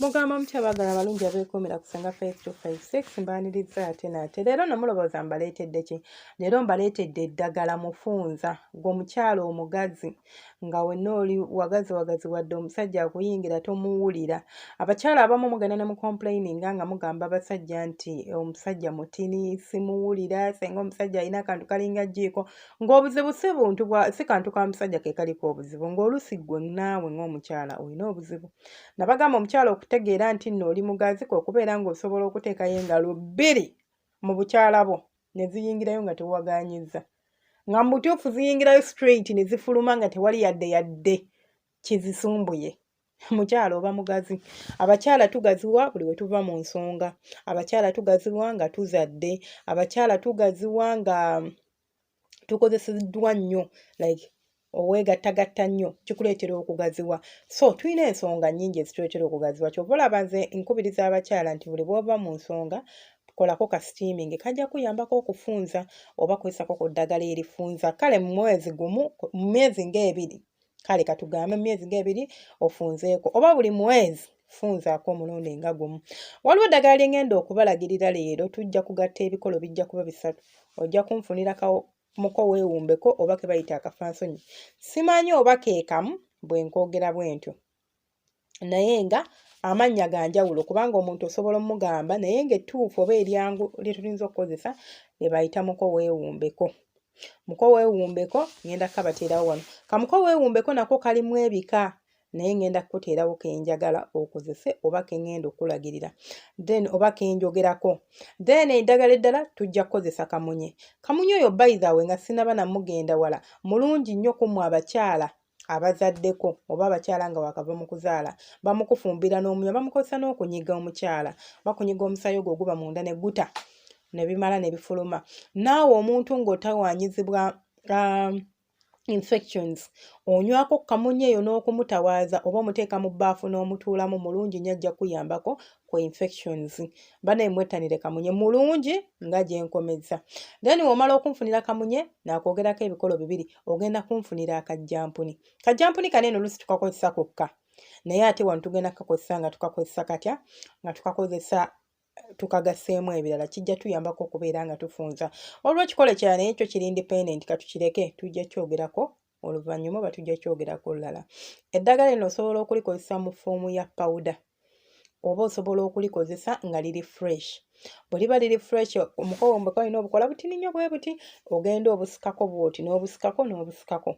mugamba mutya bagala abalungi abeekomera ku senga 5256 mbaniriza ate naate leero no mulowooza mbaleetedde ki leero mbaleetedde eddagala mufunza gweomukyalo omugazi nga wenna oli wagazi wagazi wadde omusajja akuyingira tomuwulira abakyala abamu mugenda ne mucomplaininga nga mugamba abasajja nti eh, omusajja mutini simuwulira senga omusajja alina akantu kalinga jjiiko ng'obuzibu si buntu bwa si kantu ka musajja ke kaliko obuzibu ng'olusi gwe naawe ng'omukyala olina obuzibu nabagamba omukyala okutegeera nti nno oli mugazi kwe kubeera ng'osobola okuteekayo engalo bbiri mu bukyala bwo ne ziyingirayo nga tewagaanyizza nga mu butuufu ziyingirayo straight ne zifuluma nga tewali yadde yadde kizisumbuye mukyala oba mugazi abakyala tugaziwa buli we tuva mu nsonga abakyala tugaziwa nga tuzadde abakyala tugaziwa nga tukozeseddwa nnyo like oweegattagatta nnyo kikuleetera okugaziwa so tulina ensonga nnyingi ezituleetera okugaziwa kyova olaba nze nkubiriza abakyala nti buli bwova mu nsonga kolako ka steaming kajja kuyambako okufunza oba kwesako ku ddagala erifunza kale mu mwezi gumu mu myezi ng'ebiri kale katugambe mu myezi ng'ebiri ofunzeeko oba buli mwezi funzaako omulundi nga gumu waliwo eddagala lyengenda okubalagirira leero tujja kugatta ebikolo bijja kuba bisatu ojja kunfunira muko weewumbeko oba ke bayita akafansonyi simanyi oba keekamu bwe nkoogera bwentyo naye nga amannya ga njawulo kubanga omuntu osobola omugamba naye ng'ettuufu oba eryangu lye tulinza okukozesa lye bayita muko weewumbeko muko weewumbeko ngenda kabateerawo wano kamuko weewumbeko nako kalimu ebika naye ngenda kukuteerawo kenjagala okozese oba kengenda okulagirira then oba kenjogerako then eddagala eddala tujja kukozesa kamunye kamunye oyo bayithawe nga sinaba namugenda wala mulungi nnyo kumwe abakyala abazaddeko oba abakyala nga wakava mu kuzaala bamukufumbira n'omunywa bamukozesa n'okunyiga omukyala bakunyiga omusaayi ogwo oguba munda ne guta ne bimala ne bifuluma naawe omuntu ng'otawanyizibwa um, infections onywako kamunye eyo n'okumutawaaza oba omuteeka mu bbaafu n'omutuulamu mulungi nnyo ajja kuyambako ku infections banaye mwettanire kamunye mulungi nga gyenkomezza then womala okunfunira kamunye nakwogerako ebikolo bibiri ogenda kunfunira akajjampuni kajjampuni kano eno olusi tukakozesa kokka naye ate wano tugenda kukakozesa nga tukakozesa katya nga tukakozesa tukagaseemu ebirala kijja tuyambako okubeera nga tufunza olwekikole kya naye ekyo kiri independent katukireke tujja kyogerako oluvannyuma oba tujja kyogerako olulala eddagala lino osobola okulikozesa mu foomu ya pawuda oba osobola okulikozesa nga liri fresh bwe liba liri fresh omukowo mbeka olina obukola butini nnyo bwe buti ogenda obusikako bwoti n'obusikako n'obusikako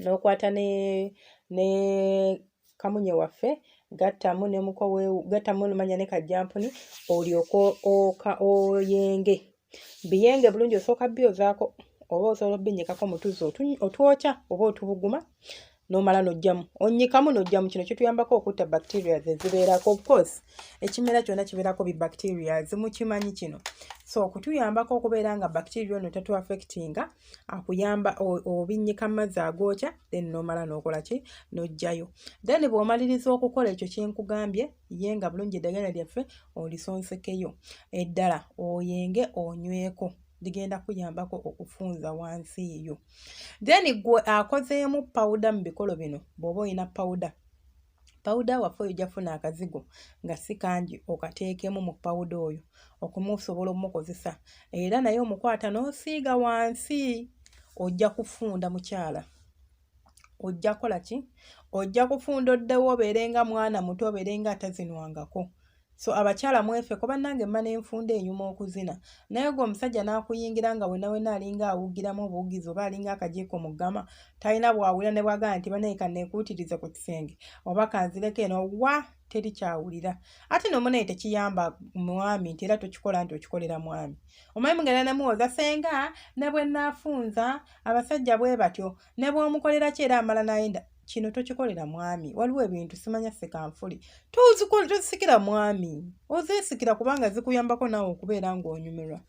n'okwata ne ne kamunye waffe gattamu ne mukowe gattamu nomanya ne kajjampuni olyoka oka oyenge biyenge bulungi osooka byozaako oba osobola obinyikako mutuzi otwokya oba otubuguma nomala nojjamu onyikamu nojjamu kino kituyambako okutta bacteria zezibeerako ofcourse ekimera kyona kibeerako bi bacteria zimukimanyi kino so okutuyambako okubeera nga bacteria ono tatuaffectinga akuyamba obinnyika mu mazzi agookya then nomala nokola ki nojjayo then bwomaliriza okukola ekyo kyenkugambye ye nga bulungi eddagala lyaffe olisonsekeyo eddala oyenge onyweko ligenda kuyambako okufunza wansi yo then gwe akozeemu pawuda mu bikolo bino bw'oba olina pawuda pawuda waffe oyo jafuna akazigo nga si kangi okateekemu mu pawuda oyo okumusobola omukozesa era naye omukwata n'osiiga wansi ojja kufunda mukyala ojja kola ki ojja kufunda oddewo obeere nga mwana muto obeere nga atazinwangako so abakyala mwefeko bannange mma nenfunda enyuma okuzina naye gwe omusajja n'akuyingira nga wenawena alinga awugiramu obuwugizi oba alinga akajiiko mu ggama talina bwawulira ne bwagamba nti banaye kanekuutirize ku kisenge oba kanzireko eno wa teri kyawulira ate nomunaye tekiyamba mwami nti era tokikola nti okikolera mwami omwami mugenda nemuwoza senga ne bwe naafunza abasajja bwe batyo ne bw'omukolera ki era amala n'ayenda kino tokikolera mwami waliwo ebintu simanya sekanfuli tozisikira mwami ozeesikira kubanga zikuyambako naawe okubeera ng'onyumirwa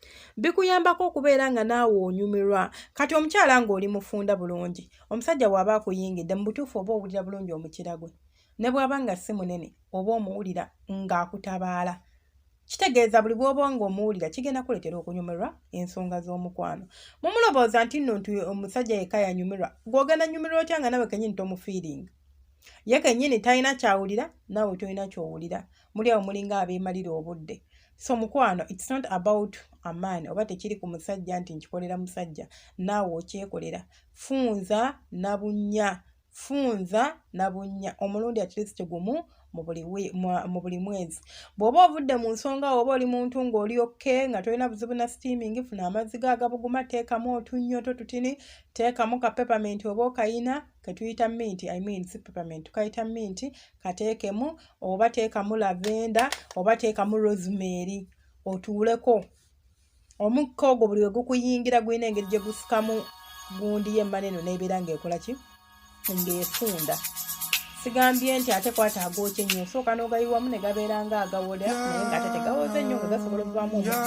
bikuyambako okubeera nga naawe onyumirwa kati omukyala ng'oli mufunda bulungi omusajja waaba akuyingidde mu butuufu oba owulira bulungi omukira gwe ne bw'aba nga si munene oba omuwulira ng'akutabaala kitegeeza buli bwoba nga omuwulira kigenda kuleetera okunyumirwa ensonga z'omukwano mumulobooza nti nno nti omusajja yekka yanyumirwa gwogenda nyumirwa otya nga nawe kenyini tomufiiringa ye kenyini talina kyawulira nawe tolina kyowulira muli awo mulinga abeemalira obudde so mukwano its not about aman oba tekiri ku musajja nti nkikolera musajja naawe okyekolera funza nabunya funza na bunnya omulundi atleast gumu mu buli mwezi bw'oba ovudde mu nsonga oba oli muntu ng'oli okke nga tolina buzibu na steaming funa amazzi ga agabuguma teekamu otunnyo to tutini teekamu ka peppermint oba okayina ketuyita minti i mean si peppermint tukayita minti kateekemu oba teekamu lavenda oba teekamu rosemary otuuleko omukka ogwo buli we gukuyingira gulina engeri gye gufukamu gundi yemmana eno neebeera ng'ekola ki ng'efunda sigambye nti ate kwata agookye nnyo osooka n'ogayiwamu ne gabeera nga agawoda naye ng'ate tegawoze nnyo nga gasobola okuvaamu